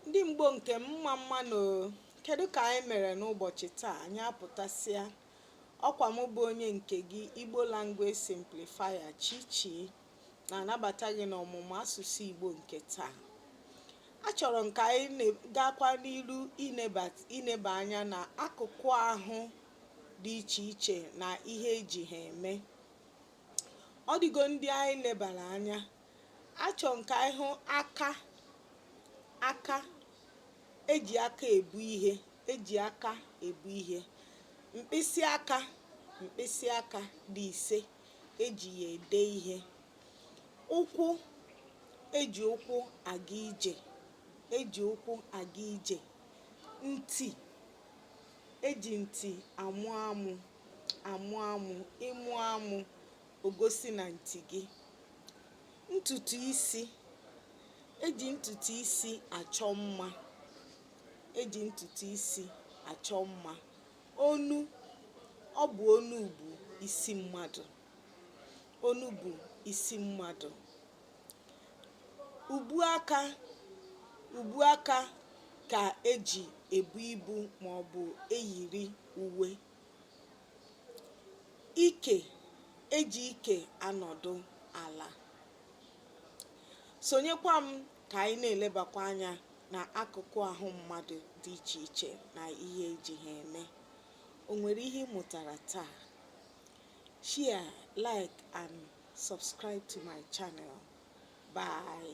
Ndị Igbo nke m mma mma nụ Kedụ ka anyị mere n'ụbọchị taa anyị apụtasịa ọkwa mụ bụ onye nke gị Igbo Language Simplifier Chichi na-anabata gị n'ọmụmụ asụsụ Igbo nke taa achọrọ m ka anyị gaakwa n'iru ineba anya na akụkụ ahụ dị iche iche na ihe eji ha eme ọ dịgo ndị anyị lebara anya achọrọ m ka anyị hụ aka aka eji aka ebu ihe eji aka ebu ihe mkpịsị aka mkpịsị aka dị ise eji ya ede ihe ụkwụ eji ụkwụ aga ije eji ụkwụ aga ije ntị eji ntị anụ amụ amụ amụ ịmụ amụ o gosi na ntị gị ntutu isi eji ntutu isi achọ mma eji ntutu isi achọ mma onu ọ bụ onu bu isi mmadụ onu bu isi mmadụ ubu aka ubu aka ka eji ebu ibu ma ọ bụ eyiri uwe Ike eji ike anọdụ ala. Sonyekwa m ka anyị na-elebakwa anya na akụkụ ahụ mmadụ dị iche iche na ihe eji ha eme. O nwere ihe ị mụtara taa? Share, like and subscribe to my channel. Bye.